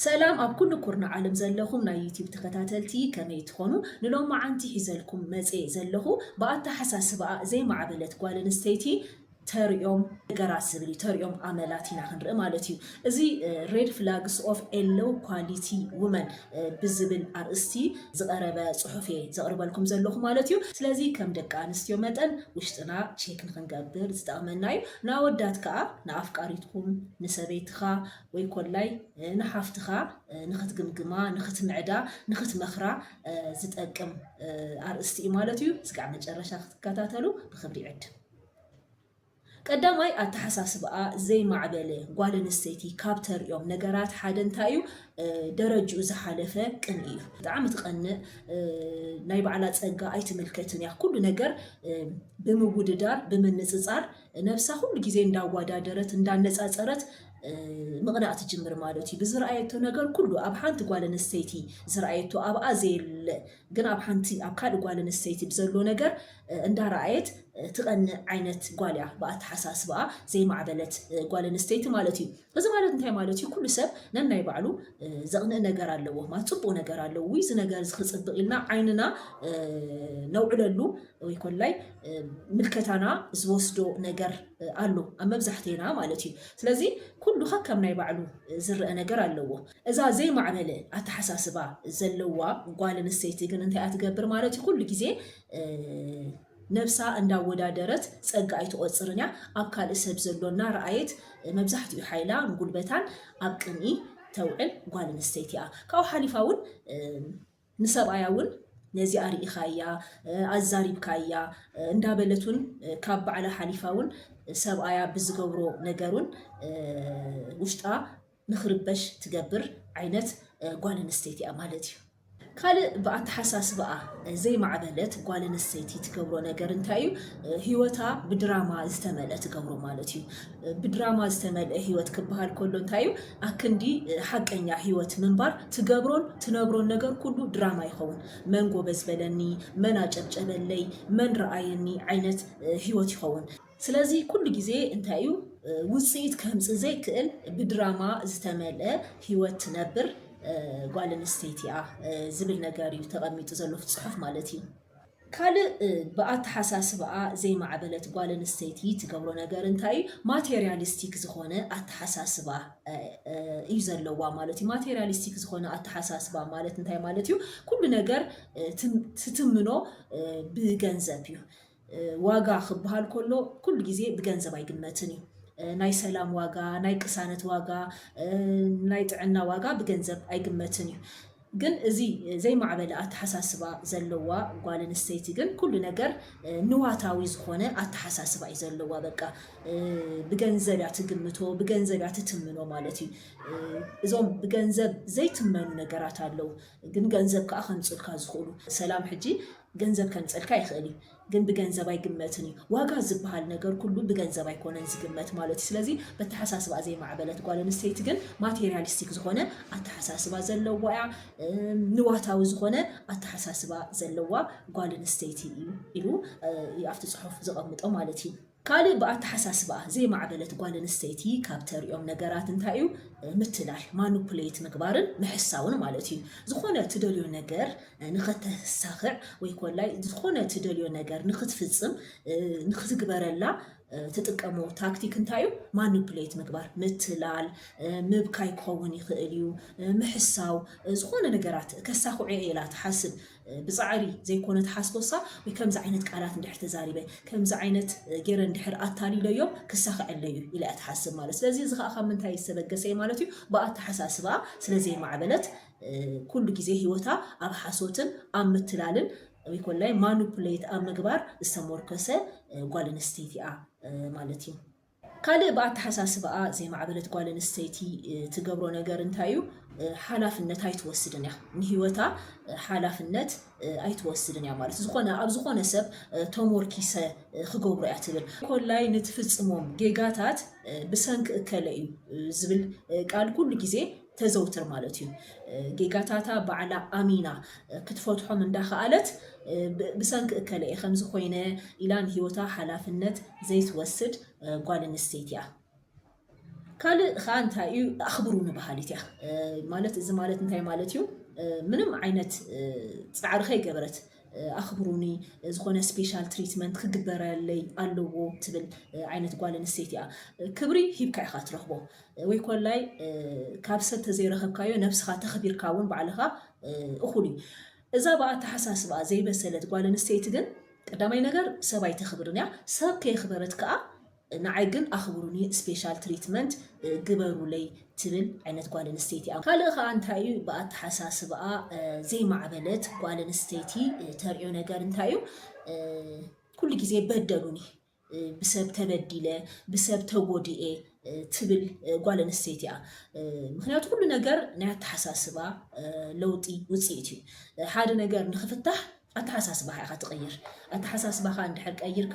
ሰላም ኣብ ኩሉ ኩርናዕ ዓለም ዘለኹም ናይ ዩቲብ ተኸታተልቲ ከመይ ትኾኑ? ንሎማዓንቲ ሒዘልኩም መጼ ዘለኹ ብኣተሓሳስባኣ ዘይማዕበለት ጓል ኣንስተይቲ ተርእዮም ነገራት ዝብል እዩ። ተርእዮም ኣመላት ኢና ክንርኢ ማለት እዩ። እዚ ሬድ ፍላግስ ኦፍ ኤ ሎው ኳሊቲ ውመን ብዝብል ኣርእስቲ ዝቐረበ ጽሑፍ እየ ዘቕርበልኩም ዘለኹ ማለት እዩ። ስለዚ ከም ደቂ ኣንስትዮ መጠን ውሽጥና ቼክ ንኽንገብር ዝጠቕመና እዩ። ንኣወዳት ከኣ ንኣፍቃሪትኩም፣ ንሰበይትኻ ወይ ኮላይ ንሓፍትኻ ንኽትግምግማ፣ ንኽትምዕዳ፣ ንኽትመኽራ ዝጠቅም ኣርእስቲ እዩ ማለት እዩ። እስካዕ መጨረሻ ክትከታተሉ ብኽብሪ ይዕድም። ቀዳማይ ኣተሓሳስባኣ ዘይማዕበለ ጓል ኣንስተይቲ ካብ ተርእዮም ነገራት ሓደ እንታይ እዩ ደረጅኡ ዝሓለፈ ቅንኢ እዩ። ብጣዕሚ ትቀንእ ናይ ባዕላ ጸጋ ኣይትምልከትን እያ ኩሉ ነገር ብምውድዳር ብምንጽጻር ነብሳ ኩሉ ግዜ እንዳዋዳደረት እንዳነጻጸረት ምቕናእ ትጅምር ማለት እዩ። ብዝረኣየቶ ነገር ኩሉ ኣብ ሓንቲ ጓል ኣንስተይቲ ዝረኣየቶ ኣብኣ ዘየለ ግን ኣብ ሓንቲ ኣብ ካልእ ጓል ኣንስተይቲ ብዘሎ ነገር እንዳረኣየት ትቀንእ ዓይነት ጓል እያ ብኣተሓሳስባኣ ዘይማዕበለት ጓል ኣንስተይቲ ማለት እዩ እዚ ማለት እንታይ ማለት እዩ ኩሉ ሰብ ነናይ ባዕሉ ዘቅንእ ነገር ኣለዎ ማለት ጽቡቅ ነገር ኣለዎ ውይ እዚ ነገር እዚ ክጽብቅ ኢልና ዓይንና ነውዕለሉ ወይ ኮላይ ምልከታና ዝወስዶ ነገር ኣሎ ኣብ መብዛሕቴና ማለት እዩ ስለዚ ኩሉ ከከም ናይ ባዕሉ ዝረአ ነገር ኣለዎ እዛ ዘይማዕበለ ኣተሓሳስባ ዘለዋ ጓል ኣንስተይቲ ግን እንታይ እያ ትገብር ማለት እዩ? ኩሉ ግዜ ነብሳ እንዳወዳደረት ጸጋ ኣይትቖጽርን እያ። ኣብ ካልእ ሰብ ዘሎ እናረኣየት መብዛሕትኡ ሓይላን ጉልበታን ኣብ ቅንኢ ተውዕል ጓል ኣንስተይቲ እያ። ካብኡ ሓሊፋ እውን ንሰብኣያ እውን ነዚኣ ርኢኻያ፣ ኣዛሪብካያ እንዳበለት እውን ካብ ባዕላ ሓሊፋ እውን ሰብኣያ ብዝገብሮ ነገር እውን ውሽጣ ንኽርበሽ ትገብር ዓይነት ጓል ኣንስተይቲ እያ ማለት እዩ። ካልእ ብኣተሓሳስባኣ ዘይማዕበለት ጓል ኣንስተይቲ ትገብሮ ነገር እንታይ እዩ? ህይወታ ብድራማ ዝተመልአ ትገብሮ ማለት እዩ። ብድራማ ዝተመልአ ህይወት ክበሃል ከሎ እንታይ እዩ? ኣክንዲ ሓቀኛ ህይወት ምንባር ትገብሮን ትነብሮን ነገር ኩሉ ድራማ ይኸውን። መን ጎበዝ በለኒ፣ መን ኣጨብጨበለይ፣ መን ረኣየኒ ዓይነት ህይወት ይኸውን። ስለዚ ኩሉ ግዜ እንታይ እዩ ውጽኢት ከምጽእ ዘይክእል ብድራማ ዝተመልአ ህይወት ትነብር ጓል ኣንስተይቲ እያ ዝብል ነገር እዩ ተቐሚጡ ዘሎ እቲ ጽሑፍ ማለት እዩ። ካልእ ብኣተሓሳስባኣ ዘይማዕበለት ጓል ኣንስተይቲ ትገብሮ ነገር እንታይ እዩ ማቴርያሊስቲክ ዝኾነ ኣተሓሳስባ እዩ ዘለዋ ማለት እዩ። ማቴርያሊስቲክ ዝኾነ ኣተሓሳስባ ማለት እንታይ ማለት እዩ ኩሉ ነገር ትትምኖ ብገንዘብ እዩ። ዋጋ ክበሃል ከሎ ኩሉ ግዜ ብገንዘብ ኣይግመትን እዩ። ናይ ሰላም ዋጋ፣ ናይ ቅሳነት ዋጋ፣ ናይ ጥዕና ዋጋ ብገንዘብ ኣይግመትን እዩ። ግን እዚ ዘይማዕበለ ኣተሓሳስባ ዘለዋ ጓል ኣንስተይቲ ግን ኩሉ ነገር ንዋታዊ ዝኾነ ኣተሓሳስባ እዩ ዘለዋ። በቃ ብገንዘብ እያ ትግምቶ፣ ብገንዘብ እያ ትትምኖ ማለት እዩ። እዞም ብገንዘብ ዘይትመኑ ነገራት ኣለዉ፣ ግን ገንዘብ ከኣ ከምጽኡልካ ዝኽእሉ። ሰላም ሕጂ ገንዘብ ከምጸልካ ይኽእል እዩ ግን ብገንዘብ ኣይግመትን እዩ ዋጋ ዝብሃል ነገር ኩሉ ብገንዘብ ኣይኮነን ዝግመት ማለት እዩ ስለዚ በተሓሳስባኣ ዘይማዕበለት ጓል ኣንስተይቲ ግን ማቴርያሊስቲክ ዝኾነ ኣተሓሳስባ ዘለዋ እያ ንዋታዊ ዝኾነ ኣተሓሳስባ ዘለዋ ጓል ኣንስተይቲ እዩ ኢሉ እዩ ኣብቲ ጽሑፍ ዘቐምጦ ማለት እዩ ካልእ ብኣተሓሳስባኣ ዘይማዕበለት ጓል ኣንስተይቲ ካብ ተርእዮም ነገራት እንታይ እዩ? ምትላል፣ ማኑፕሌት፣ ምግባርን ምሕሳውን ማለት እዩ። ዝኾነ ትደልዮ ነገር ንኸተሳኽዕ ወይ ኮላይ ዝኾነ ትደልዮ ነገር ንኽትፍጽም፣ ንኽትግበረላ፣ ትጥቀሞ ታክቲክ እንታይ እዩ? ማኑፕሌት ምግባር፣ ምትላል፣ ምብካይ ክኸውን ይኽእል እዩ፣ ምሕሳው፣ ዝኾነ ነገራት ከሳኽዑ እየ ኢላ ትሓስብ። ብጻዕሪ ዘይኮነ ትሓስቦሳ ወይ ከምዚ ዓይነት ቃላት እንድሕር ተዛሪበ ከምዚ ዓይነት ጌረ እንድሕር ኣታሊለዮም ክሳኸዐለዩ ኢላ እያ ትሓስብ ማለት ስለዚ እዚ ከዓ ካብ ምንታይ ዝተበገሰ እዩ ማለት እዩ ብኣተሓሳስባ ስለ ዘይማዕበለት ኩሉ ግዜ ህይወታ ኣብ ሓሶትን ኣብ ምትላልን ወይ ኮላይ ማኑፕሌት ኣብ ምግባር ዝተሞርከሰ ጓል ኣንስተይቲ እያ ማለት እዩ ካልእ ብኣተሓሳስባኣ ዘይማዕበለት ጓል ኣንስተይቲ ትገብሮ ነገር እንታይ እዩ? ሓላፍነት ኣይትወስድን እያ። ንህይወታ ሓላፍነት ኣይትወስድን እያ ማለት ዝኾነ ኣብ ዝኾነ ሰብ ተሞርኪሰ ክገብሮ እያ ትብል። ኮላይ ንትፍጽሞም ጌጋታት ብሰንኪ እከለ እዩ ዝብል ቃል ኩሉ ግዜ ተዘውትር ማለት እዩ። ጌጋታታ ባዕላ ኣሚና ክትፈትሖም እንዳኸኣለት ብሰንኪ እከለ እየ ከምዚ ኮይነ ኢላ ንህይወታ ሓላፍነት ዘይትወስድ ጓል ኣንስተይቲ እያ። ካልእ ከዓ እንታይ እዩ ኣኽብሩኒ በሃሊት እያ ማለት እዚ ማለት እንታይ ማለት እዩ ምንም ዓይነት ፃዕሪ ከይገበረት ኣኽብሩኒ ዝኾነ ስፔሻል ትሪትመንት ክግበረለይ ኣለዎ ትብል ዓይነት ጓል ኣንስተይቲ እያ። ክብሪ ሂብካ ኢኻ ትረኽቦ። ወይ ኮላይ ካብ ሰብ ተዘይረኸብካዮ ነብስኻ ተኽቢርካ ውን ባዕልኻ እኹል እዩ። እዛ ብኣተሓሳስብኣ ዘይበሰለት ጓል ኣንስተይቲ ግን ቀዳማይ ነገር ሰብ ኣይተኽብርን እያ ሰብ ከየኽበረት ከኣ ንዓይ ግን ኣኽብሩኒ ስፔሻል ትሪትመንት ግበሩለይ ትብል ዓይነት ጓል ኣንስተይቲ እያ። ካልእ ከኣ እንታይ እዩ ብኣተሓሳስብኣ ዘይማዕበለት ጓል ኣንስተይቲ ተርእዮ ነገር እንታይ እዩ ኩሉ ግዜ በደሉኒ ብሰብ ተበዲለ ብሰብ ተጎዲኤ ትብል ጓል ኣንስተይቲ እያ። ምክንያቱ ኩሉ ነገር ናይ ኣተሓሳስባ ለውጢ ውፅኢት እዩ። ሓደ ነገር ንክፍታሕ ኣተሓሳስባኻ ኢኻ ትቕይር። ኣተሓሳስባኻ እንድሕር ቀይርካ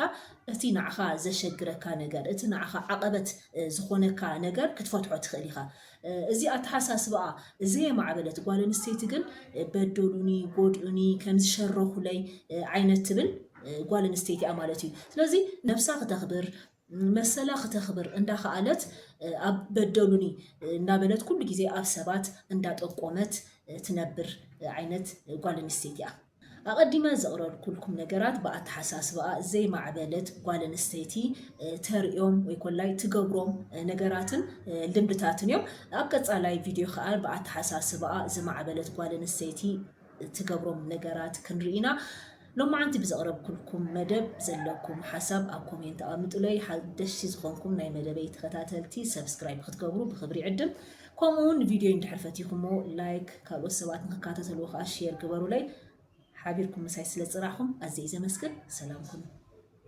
እቲ ንዓኻ ዘሸግረካ ነገር እቲ ንዓኻ ዓቐበት ዝኾነካ ነገር ክትፈትሖ ትኽእል ኢኻ። እዚ ኣተሓሳስባኣ ዘየማዕበለት ጓል ኣንስተይቲ ግን በደሉኒ፣ ጎድኡኒ፣ ከምዚ ሸረኹለይ ዓይነት ትብል ጓል ኣንስተይቲ እያ ማለት እዩ። ስለዚ ነብሳ ክተኽብር መሰላ ክተኽብር እንዳኸኣለት ኣብ በደሉኒ እንዳበለት ኩሉ ግዜ ኣብ ሰባት እንዳጠቆመት ትነብር ዓይነት ጓል ኣንስተይቲ እያ። ኣቐዲመ ዘቕረርኩልኩም ነገራት ብኣተሓሳስባኣ ዘይማዕበለት ጓል ኣንስተይቲ ተርእዮም ወይ ኮላይ ትገብሮም ነገራትን ልምድታትን እዮም። ኣብ ቀጻላይ ቪድዮ ከኣ ብኣተሓሳስባኣ ዝማዕበለት ጓል ኣንስተይቲ ትገብሮም ነገራት ክንርኢ ኢና። ሎማዓንቲ ብዘቕረብኩልኩም መደብ ዘለኩም ሓሳብ ኣብ ኮሜንት ኣቐምጡለይ። ሓደሽቲ ዝኾንኩም ናይ መደበይ ተኸታተልቲ ሰብስክራይብ ክትገብሩ ብኽብሪ ይዕድም። ከምኡ ውን ቪድዮይ እንድሕር ፈቲኹሞ ላይክ ካልኦት ሰባት ንክካተተልዎ ከኣ ሼር ግበሩለይ ሓቢርኩም ምሳይ ስለ ዝጽናሕኹም ኣዝየ እየ ዘመስግን ሰላም ኩኑ።